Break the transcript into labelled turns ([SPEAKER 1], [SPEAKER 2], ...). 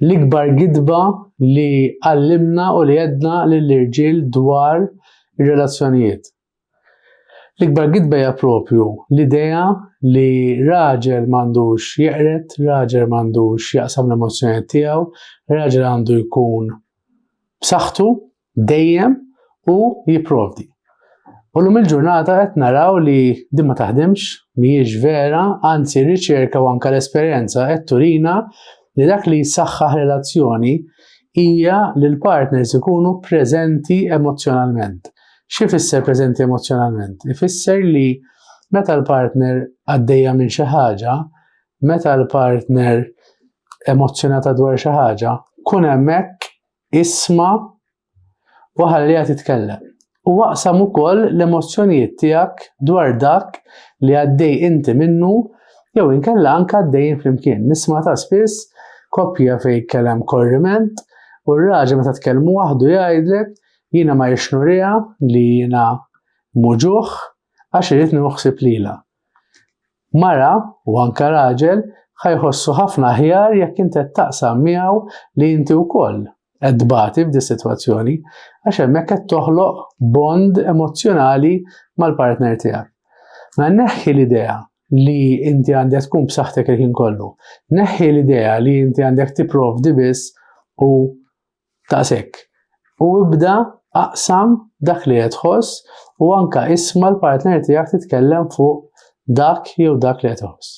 [SPEAKER 1] L-ikbar gidba li għallimna u li għedna lill-irġiel dwar ir-relazzjonijiet. L-ikbar gidba hija propju l-idea li raġel m'għandux jeqred, raġel m'għandux jaqsam l-emozzjonijiet tiegħu, raġel għandu jkun b'saħħtu, dejjem u jipprovdi. U l-lum il-ġurnata qed naraw li din ma taħdimx, mhijiex vera, anzi r-riċerka u anke l-esperjenza qed turina li dak li jsaħħaħ relazzjoni hija li l-partners ikunu preżenti emozzjonalment. Xi fisser preżenti emozzjonalment? Ifisser li meta l-partner għaddejja minn xi ħaġa, meta l-partner emozzjonata dwar xi ħaġa, kun hemmhekk Isma' u ħalliha titkellem. U aqsam ukoll l-emozzjonijiet tiegħek dwar dak li għaddej inti minnu jew inkella anke għaddejjin flimkien. Nisma' ta' spiss koppja fejn jkellem korriment u r-raġel meta tkellmu waħdu jgħidlek jiena ma rridx nuriha li jiena mhu ġuħ għax irrid nieħu ħsieb lilha. Mara, u anke raġel, ħa jħossu ħafna aħjar jekk int qed taqsam miegħu li inti wkoll qed tbati f'dis-sitwazzjoni, għax hemmhekk qed toħloq bond emozzjonali mal-partner tiegħek. Mela neħħi l-idea li inti għandek tkun b'saħħtek il-ħin kollu. Neħħi l-idea li inti għandek tipprovdi biss u Daqshekk. U ibda aqsam dak li qed tħoss u anke isma' l-partner tiegħek titkellem fuq dak jew dak li qed iħoss.